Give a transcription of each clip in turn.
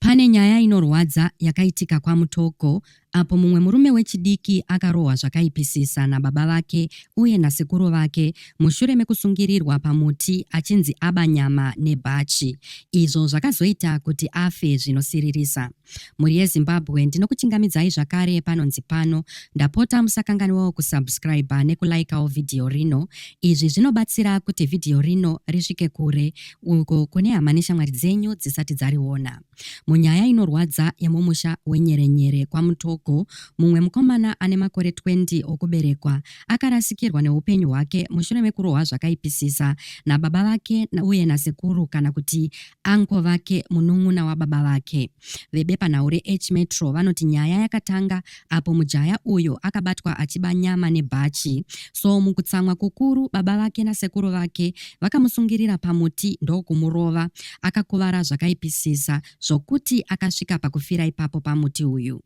Pane nyaya inorwadza yakaitika kwaMutoko apo mumwe murume wechidiki akarohwa zvakaipisisa nababa vake uye nasekuru vake mushure mekusungirirwa pamuti achinzi aba nyama nebhachi izvo zvakazoita kuti afe zvinosiririsa. Mhuri yeZimbabwe ndinokuchingamidzai zvakare panonzi pano. Ndapota musakanganiwawo kusubscriber nekulikawo vhidhiyo rino. Izvi zvinobatsira kuti vhidhiyo rino risvike kure uko kune hama neshamwari dzenyu dzisati dzariona. Munyaya inorwadza yemumusha wenyerenyere kwaMutogo, mumwe mukomana ane makore 20 okuberekwa akarasikirwa neupenyu hwake mushure mekurohwa zvakaipisisa nababa vake uye nasekuru kana kuti Uncle vake munun'una wababa vake. Vebepanhau reH Metro vanoti nyaya yakatanga apo mujaya uyo akabatwa achiba nyama nebhachi. So mukutsamwa kukuru baba vake nasekuru vake vakamusungirira pamuti ndokumurova. Akakuvara zvakaipisisa zvokuti akasvika pakufira ipapo pamuti uyu.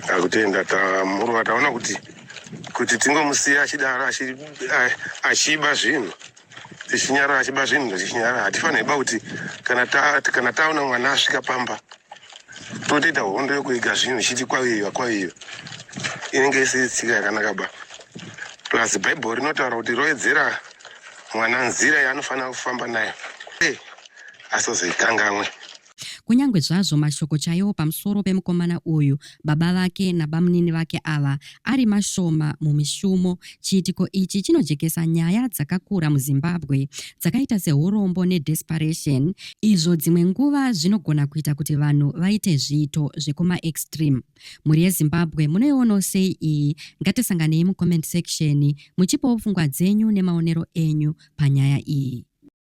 Takutenda tamuruva taona kuti kuti tingomusiya achidaro achi- a- achiba zvinhu tichinyarara achiba zvinhu tichinyarara hatifaniri ba kuti kana ta- kana taona mwana asvika pamba totoita hondo yokuiga zvinhu ichiti kwaviiva kwaviiva inenge isiri tsika yakanaka ba plus bhaibheri rinotaura kuti roedzera mwana nzira yaanofanira kufamba nayo Eh, asazoikangamwe Kunyange zvazvo mashoko chaiwo pamusoro pemukomana uyu, baba vake nabamunini vake ava ari mashoma mumishumo, chiitiko ichi chinojekesa nyaya dzakakura muZimbabwe dzakaita sehurombo nedesperation, izvo dzimwe nguva zvinogona kuita kuti vanhu vaite zviito zvekumaextreme. Mhuri yeZimbabwe munoionawo sei iyi? Ngatisanganei mucomment section muchipawo pfungwa dzenyu nemaonero enyu panyaya iyi.